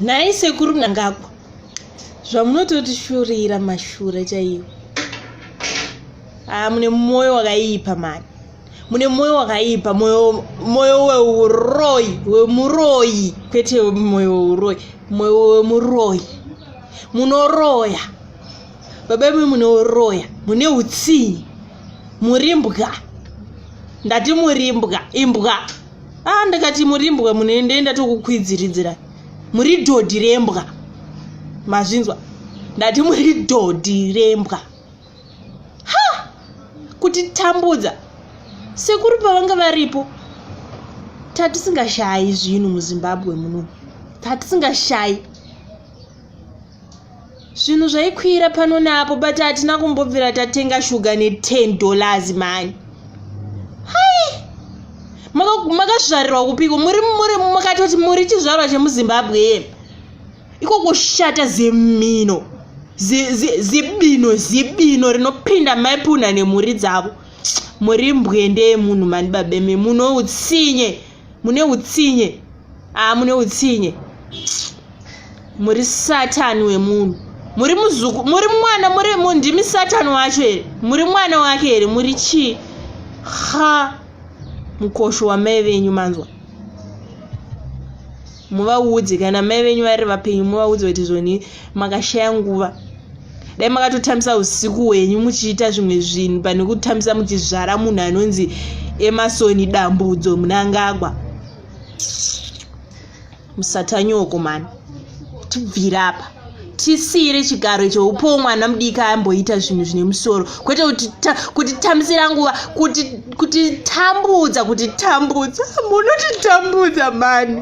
nhai sekuru mnangagwa zvamunototisurira mashura chaiwo haa ah, mune mwoyo wakaipa mani mune mwoyo wakaipa mwoyo weuroyi wemuroyi kwete mwoyo weuroyi mwoyo wemuroyi munoroya baba imwe munoroya mune utsinyi muri mbwa ndati muri mbwa imbwa a ah, ndakati murimbwa munoendaenda tokukwidziridzira muri dhodhi rembwa mazvinzwa ndati muri dhodhi rembwa ha kutitambudza sekuru pavanga varipo tatisingashayi zvinhu muzimbabwe muno tatisingashayi zvinhu zvaikwira pano neapo but hatina kumbobvira tatenga shuga ne10 dollars mani hai makazvarirwa kupiko muri muri makatoti muri chizvarwa chemuzimbabwe ye iko kushata zemino zibino zibino rinopinda maipuna nemhuri dzavo muri mbwende yemunhu mani babeme munoutsinye mune utsinye aa ah, mune utsinye muri satani wemunhu muri muzuku muri mwana muri ndimi satani wacho here muri mwana wake here muri chii ha mukosho wamai venyu manzwa muvaudze kana mai venyu vari vapenyu muvaudze kuti zvoni makashaya nguva dai makatotambisa usiku hwenyu muchiita zvimwe zvinhu pane kutambisa muchizvara munhu anonzi emasoni dambudzo munangagwa musatanyoko mani tibvira apa tisiire chigaro choupowo mwana mudiki amboita zvinhu zvine musoro kwete kutitambisira nguva kutitambudza kutitambudza munotitambudza mani